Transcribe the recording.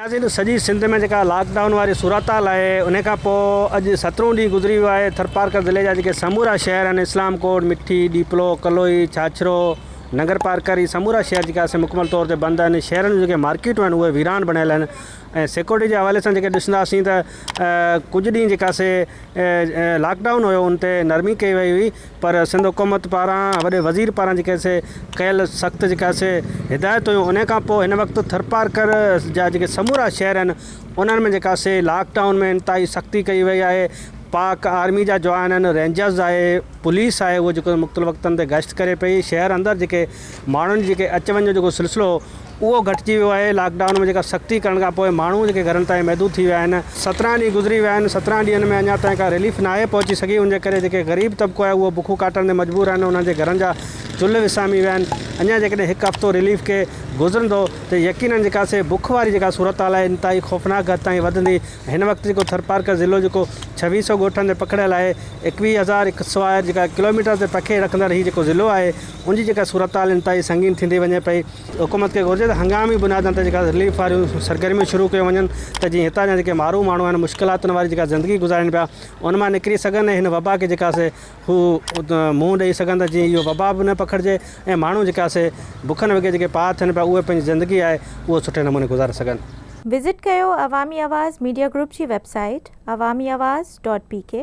ناظرين ته سڄي سنڌ ۾ جيڪا لاڪ ڊائون واري صورتحال آهي ان کان پوء اڄ سترهون ڏينهن گذري ويو آهي ٿرپارڪر ضلعي جا جيڪي سمورا شهر آهن اسلام ڪوٽ، مٺي، ڏيپلو، ڪلوئي، ڇاڇرو، ننگرپارڪر هي سمورا شهر جيڪي آسي مڪمل طور تي بند آهن شهرن جون جيڪي مارڪيٽون آهن اهي ويران بڻيل آهن ۽ سيڪورٽي جي حوالي سان جيڪي ڏسنداسين ته ڪجهه ڏينهن جيڪا سي لاڪ ڊائون هيو ان تي نرمي ڪئي وئي هئي پر سنڌ حڪومت پاران وڏي وزير پاران جيڪي سي ڪيل سخت جيڪا سي هدايت هيون انهي کان پوء هن وقت ٿرپارڪر جا جيڪي سمورا شهر آهن انهن ۾ جيڪا سي لاڪ ڊائون ۾ انتهائي سختي ڪئي وئي آهي پاڪ آرمي جا جوان آهن رينجرز آهي پوليس آهي هو جيڪو مختلف وقتن تي گشت ڪري پئي شهر اندر جيڪي ماڻهن جيڪي اچ وڃ جو جيڪو سلسلو هو اهو گهٽجي ويو آهي، لاڪ ڊائون ۾ جيڪا سختي ڪرڻ کان پوء ماڻهو جيڪي گهرن تائين محدود ٿي ويا آهن، سترهن ڏينهن گذري ويا آهن، سترهن ڏينهن ۾ اڃا تائين ڪا رليف ناهي پهچي سگهي، ان جي ڪري جيڪي غريب طبقو آهي اهو بکون ڪاٽڻ تي مجبور آهن، انهن جي گهرن جا چلهه وسامي ويا آهن، اڃا جيڪڏهن هڪ هفتو رليف کي گذرندو ته يقينن جيڪا سي بک واري جيڪا صورتحال آهي انتهائي خوفناڪ حد تائين وڌندي، هن وقت جيڪو ٿرپارڪر ضلعو جيڪو ڇويهه سئو ڳوٺن تي پکڙيل آهي، ايڪويهه هزار ايڪسوائر جيڪا ڪلوميٽر تي پکي رکندڙ هي جيڪو ضلعو آهي، ان جي جيڪا صورتحال انتهائي سنگين ٿيندي وڃي پئي، حڪومت کي گهرجي ته هنگامي بنيادن تي جيڪا رليف واريون سرگرميون شروع ڪيون وڃن ته جيئن هتان جا جيڪي مارو ماڻهو آهن مشڪلاتن واري جيڪا زندگي گذارين پيا ان مان نڪري سگهن ۽ هن وبا کي جيڪا سي هو منهن ڏئي سگهن ته جيئن اهو وبا به نه پکڙجي ۽ ماڻهو جيڪا سي بکن وگهي جيڪي پار ٿين پيا اهي پنهنجي زندگي آهي اهو سٺي نموني گذاري سگهن. وزٽ ڪيو عوامي آواز ميڊيا گروپ جي website Awami Awaz dot P ڪي.